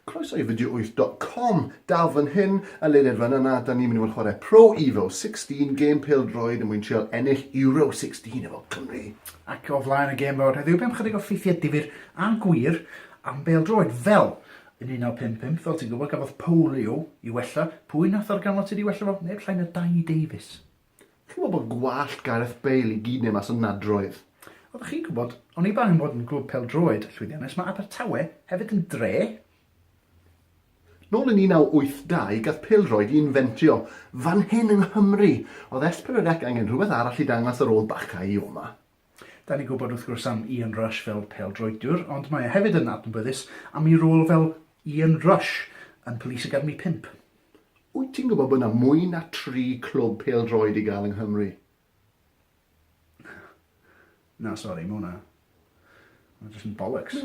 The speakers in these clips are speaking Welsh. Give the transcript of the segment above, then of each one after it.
Croeso i video8.com, dal fan hyn, a le nid fan yna, da ni'n mynd i fod yn chwarae Pro Evo 16, gêm pêl droed yn mwyn trial ennill Euro 16 efo Cymru. Ac o flaen y gêm fawr heddiw, bem chydig o ffeithiau difyr a gwir am bêl droed, fel yn 1955, fel ti'n gwybod, gafodd polio i wella, pwy nath organfod sydd wedi wella fo? Neb llai na Dai Davies. Chi'n gwybod bod gwallt Gareth Bale i gyd neu mas o nadroedd. Oeddech chi'n gwybod, oni bai am fod yn glwb pêl-droed llwyddiannus, mae Abertawe hefyd yn dre? Nôl yn 1982, gath pêl-droed i infentio fan hyn yng Nghymru. Oedd Espen yr Ec angen rhywbeth arall i dangos ar ôl Bacca i Ioma? Da ni'n gwybod wrth gwrs am Ian Rush fel pêl-droediwr, ond mae e hefyd yn adnabyddus am ei rôl fel Ian Rush yn Police Academy 5. Wyt ti'n gwybod bod yna mwy na tri clwb pêl-droed i gael yng Nghymru? Na, sori, mae hwnna... Mae'n jyst yn bollocks.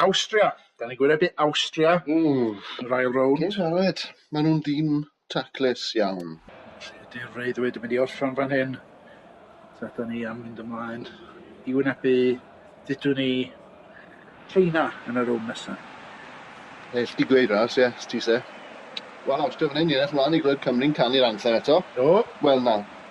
Awstria! Da ni'n gwynebu Awstria yn yr ail rownd. Dim siarad, maen nhw'n dîm taclus iawn. Felly ydy'r freuddwyd yn mynd i orffen fan hyn? Ta da ni am mynd ymlaen i wynebu, dydw ni, China yn y rownd nesaf? Neu chdi gweud ras, ie, ti se. Wel, Awstria fan hyn, ni'n edrych ymlaen i glywed Cymru'n canu'r anthem eto. Do. Wel na,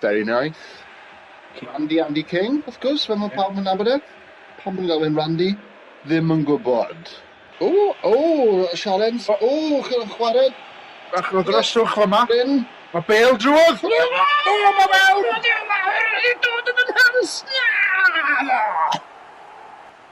Very nice. Randy Andy King, wrth gwrs, fel mae pawb yn nabod e. Pam bod nhw'n galw e'n Randy? Ddim yn gwybod. O, o, Sialens, o, chi'n chwarae... Bach o ddryswch fyma. Mae bêl drwodd! O, mae mewn! Mae'n dod yn y nhans! Na!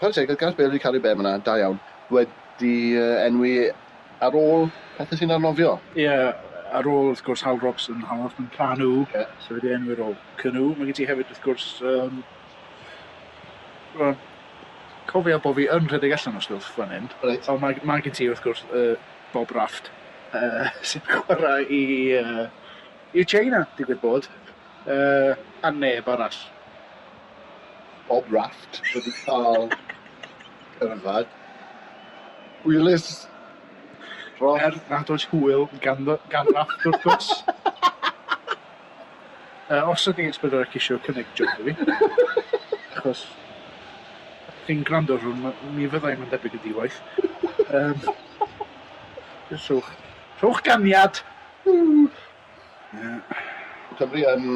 Chwarae teg wrth Gareth Bale wedi caru bem yna, da iawn. Wedi enwi ar ôl pethau sy'n arnofio. Ie, ar ôl wrth gwrs Hal Robson, Hal Robson Canu, yeah. so wedi enwi ar ôl Canu. Mae gen ti hefyd wrth gwrs, um, well, cofio bod fi yn rhedeg allan o stwff fan hyn. Right. O, mae, mae gen ti wrth gwrs uh, Bob Raft, uh, sy'n chwarae i, uh, i China, digwydd bod, uh, a neb arall. Bob Raft wedi cael cerdded hwylus dros... Er nad oes hwyl gan fy- gan Raft wrth gwrs. Yy os ydych chi'n sbïo ar y cisiau cynnig joc i fi achos chi'n gwrando ar hwn ma' mi fydda i ma'n debyg yn di-waith yym jyst rhowch rhowch ganiad. Ww. Cymru yn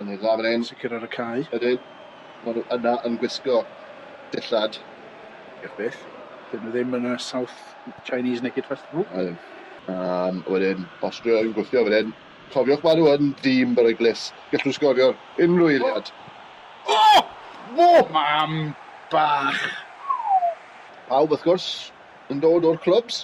yn ei ddarren sicr ar y cae. Ydyn. Maen nhw yna yn gwisgo dillad. Diolch byth. Dyn nhw ddim yn y South Chinese Naked Festival. Ydyn. Um, wedyn, Austria yn gwthio wedyn. Cofiwch maen nhw yn dîm beryglus. Gallwn nhw sgorio'r unrhyw eiliad. O! Oh! O! Oh! Oh! Mam bach! Pawb, wrth gwrs, yn dod o'r clwbs.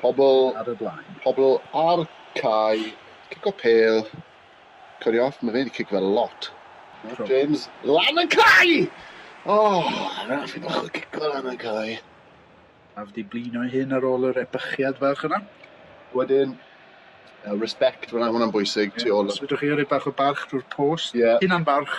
Pobl ar y blaen. Pobl ar cae. Cic o pêl. Cyrrio off. Mae fe'n cic fel lot. Matt James lan y cae! O, oh, raffi bach o cic o lan y cae. Af di blino ei hun ar ôl yr ebychiad fach yna. Wedyn, uh, respect, fyna hwnna'n bwysig, yeah, tu ôl. Os ydych chi ar ei bach o barch drwy'r post, yeah. hynna'n barch,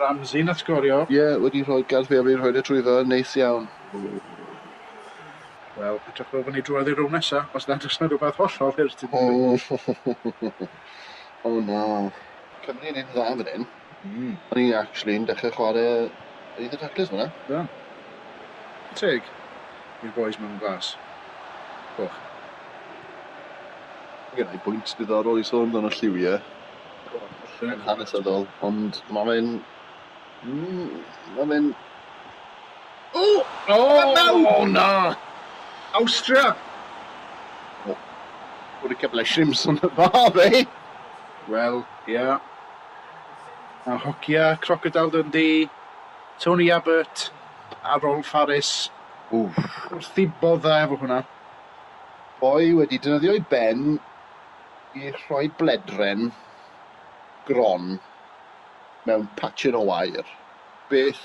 Ramsey na sgorio. Ie, wedi rhoi galw fi a fi'n rhoid e trwyddo, neis iawn. Wel, edrych fel fo' ni drwodd i'r rownd nesa, os nad o's 'na rwbath hollol hurt i ddigwydd. O na. Cymru yn neud yn dda fan hyn. Mm. O'n i actually yn dechre chware un o'r taclers fan 'na. Da. Teg i'r bois mewn glas coch. Genai bwynt diddorol i sôn amdano lliwie. yn hanesyddol, ond mae fe'n... Mm, mae fe'n... O! O! O, na! Austria! O, bod y cyfle shrimps yn y fa, fe! Wel, ia. Yeah. A hogia Crocodile Dundee, Tony Abbott a Rolf Harris. Wff. Wrth i bodda efo hwnna. Boi wedi dynyddio'i ben i rhoi bledren gron mewn patir o wair. Beth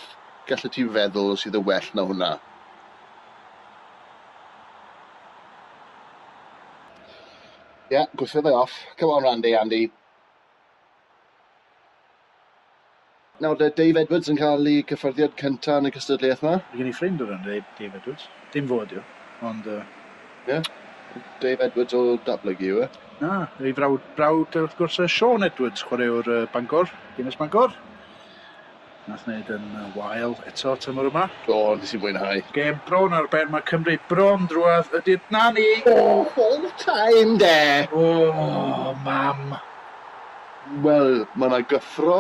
gallet ti feddwl sydd yn well na hwnna? Ie, gwthiodd e off. Come on Randy, Andy. Nawr bydd Dave Edwards yn cael ei gyffyrddiad cynta yn y cystadleuaeth 'ma. Mae gen i ffrind o'r enw Dave Edwards. Dim fo ydi o, ond yy... Ie? Dave Edwards o Datblygu yw e? Na, ei frawd, brawd wrth gwrs yy Siôn Edwards, chwaraewr yy Bangor, Dinas Bangor. Nath wneud yn wael eto tymor yma. Do, nes i fwynhau. Gêm bron ar ben, mae Cymru bron drwadd, ydynt, na ni! Oh, full time de! Oh, mam! Wel, mae yna gyffro,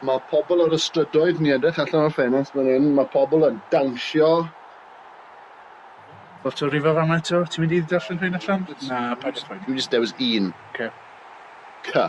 mae pobl ar y strydoedd, ni'n edrych allan o'r ffenest fan hyn, mae pobl yn dawnsio. Lot o rifa fan'na eto, ti'n mynd i darllen rhain allan? Na, paid â phoeni. Dwi jyst dewis un. Ocê. Cy.